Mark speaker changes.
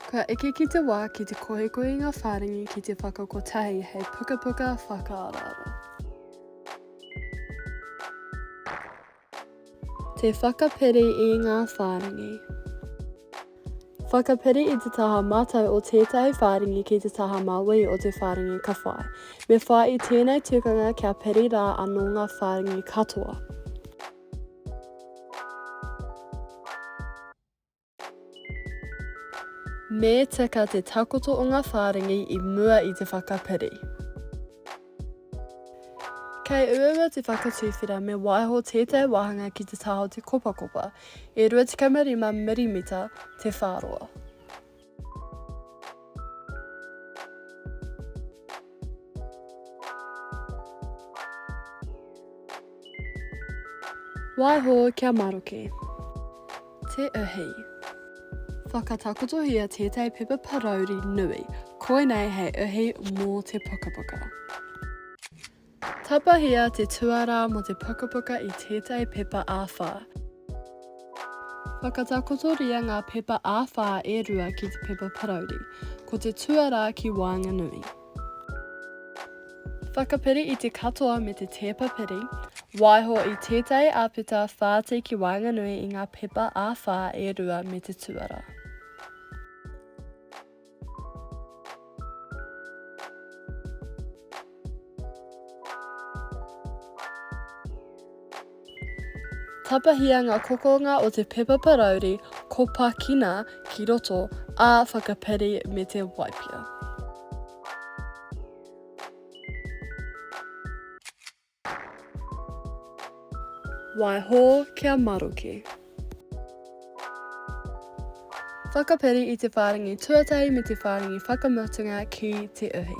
Speaker 1: Ka eke ki te wā ki te kohekohenga whārangi ki te whakakotahi hei pukapuka whakaaraara. Te whakapiri i ngā whārangi. Whakapiri i te taha mātau o tētahi whārangi ki te taha māui o te whārangi ka whai. Me whai i tēnei tukanga kia piri rā anō ngā whārangi katoa. Me tika te takoto o ngā whārangi i mua i te whakapiri. Kei uaua te whakatuwhera me waiho tētahi wāhanga ki te taha o te kopakopa, e 25 mirimita te whāroa. Waiho kia maroke. Te Uhi. Whakatakotohia tētahi pepa parauri nui, koinei hei uhi mō te pukapuka. Tapahia te tuarā mō te pukapuka i tētahi pepa āwhā. Whakatakotoria ngā pepa āwhā e rua ki te pepa parauri, ko te tuarā ki waenganui. Whakapiri i te katoa me te tēpa piri, waiho i tētahi āpeta whāti ki waenganui i ngā pepa ā-whā e rua me te tuara. Tapahia ngā kokonga o te pepa parauri kopakina ki roto, ā, whakapiri me te waipia. Waiho kia maroke. Whakapiri i te whārangi tuatahi me te whārangi whakamutunga ki te uhi.